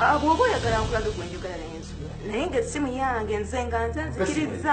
Ah, bwoba oyagala nkulaga gwenjogala naye nsobola naye nga essimu yange nze nga nze nzikiriza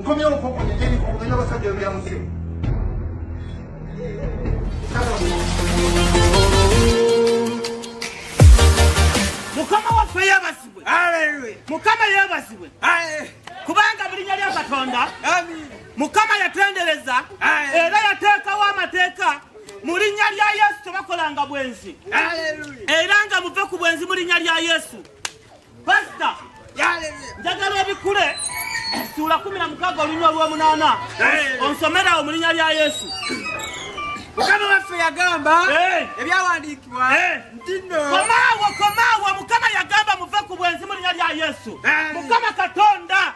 nkomye okoko nigeri kugenda basajja bya musi mukama waffe yebasibwe mukama yebasibwe kubanga bulinya lya katonda mukama yatendereza era yateekawo amateeka mu linnya lya yesu tebakolanga bwenzi era nga muve ku bwenzi mu linnya lya yesu Pastor, njagala obikule essuula kumi na mukaaga olunywa lw'omunaana onsomerawo mu linnya lya Yesu. Mukama waffe yagamba ebyawandiikibwa nti nno komaawo komaawo Mukama yagamba muve ku bwenzi mu linnya lya Yesu. Mukama Katonda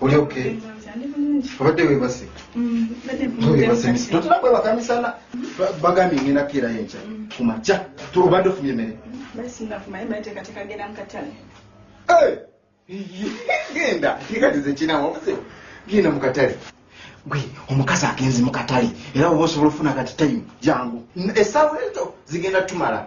oli oke obadde webase totera kwebaka misana bagambye ngenda kukeera yenkya kumakya obadde ofumye emere genda kikatize kinawobuze genda mukatale gwe omukazi agenze mukatale era oba osobola ofuna kati time jangu esaawa ezo zigenda tumala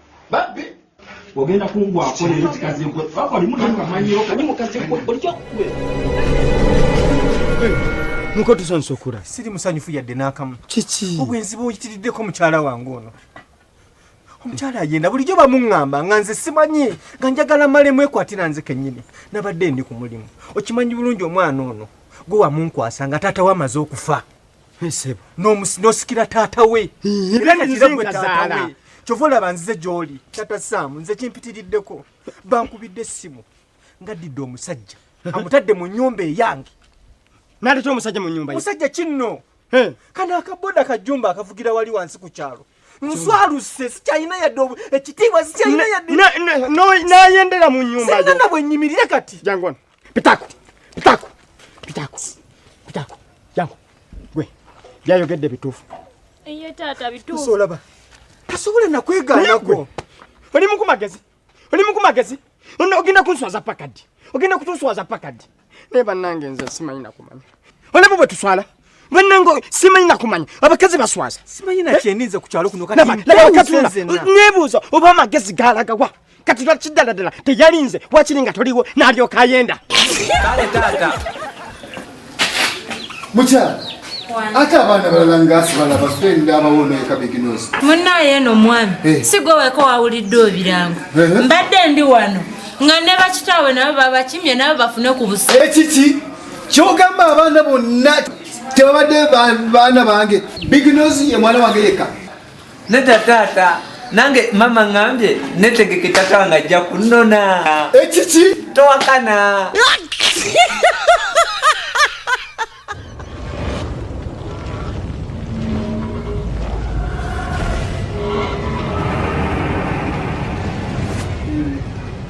babbi ogenda kungwako leero kikazi gwe papa oli muna kamanyiro kani mukazi gwe oli kyakube nuko tusanyusa okula siri musanyufu yadde n'akamu kiki obwenzi bwoyitiriddeko mukyala wange ono omukyala ayenda bulijjo bamuŋŋamba nga nze simanyi nga njagala male mwekwatira nze kennyini nabadde ndi ku mulimu okimanyi bulungi omwana ono gwe wamunkwasa nga taata we amaze okufa Nsebo. No musi no sikira tata we. Era ne nze gwe tata we. Chovola banzize joli. Tata Sam nze kimpitiriddeko. Bankubidde simu. Ngadidde omusajja. Amutadde mu nyumba eyange. Nali to omusajja mu nyumba. Musajja kinno. He. Kana akaboda kajumba akavugira wali wansi ku chalo. Nswaluse sikyalina yadde ekitiibwa sikyalina yadde. Nayendera mu nyumba. Singa nabwe nyimirire kati. Jangwana. Pitako, pitako, pitako, pitako. Jangu, gwe, byayogedde bituufu. Eye taata bituufu. Tusolaba. Tasobola na kwegaana gwe. Oli muku magezi. Oli muku magezi. Ono ogenda kunswaza pakadi. Ogenda kutuswaza pakadi. Naye bannange nze simanyi na kumanya. Olaba bwe tuswala. banango simanyi nakumanya abakazi baswaza simanyi nakyeninze ku kyalo kuno katinebuuza oba amagezi galagawa kati lwaki ddala ddala teyalinze wakiri nga toliwo nalyoka ayenda kale taata mukyala ate abaana balala ngaasibala bafendi abawona ekabiginozi munaye eno omwami eh. sigwe weko wawulidde obirango eh. mbadde ndi wano nga ne bakitaawe nabo babakimye nabo bafune ku busa ekiki eh, kyogamba abaana bonna tebabadde baana bange bignos ye mwana wange yekka neda taata nange mama ngambye netegeke tata wange ajja kunona ekiki towakana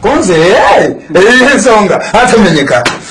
konze eh, eh, ensonga atamenyeka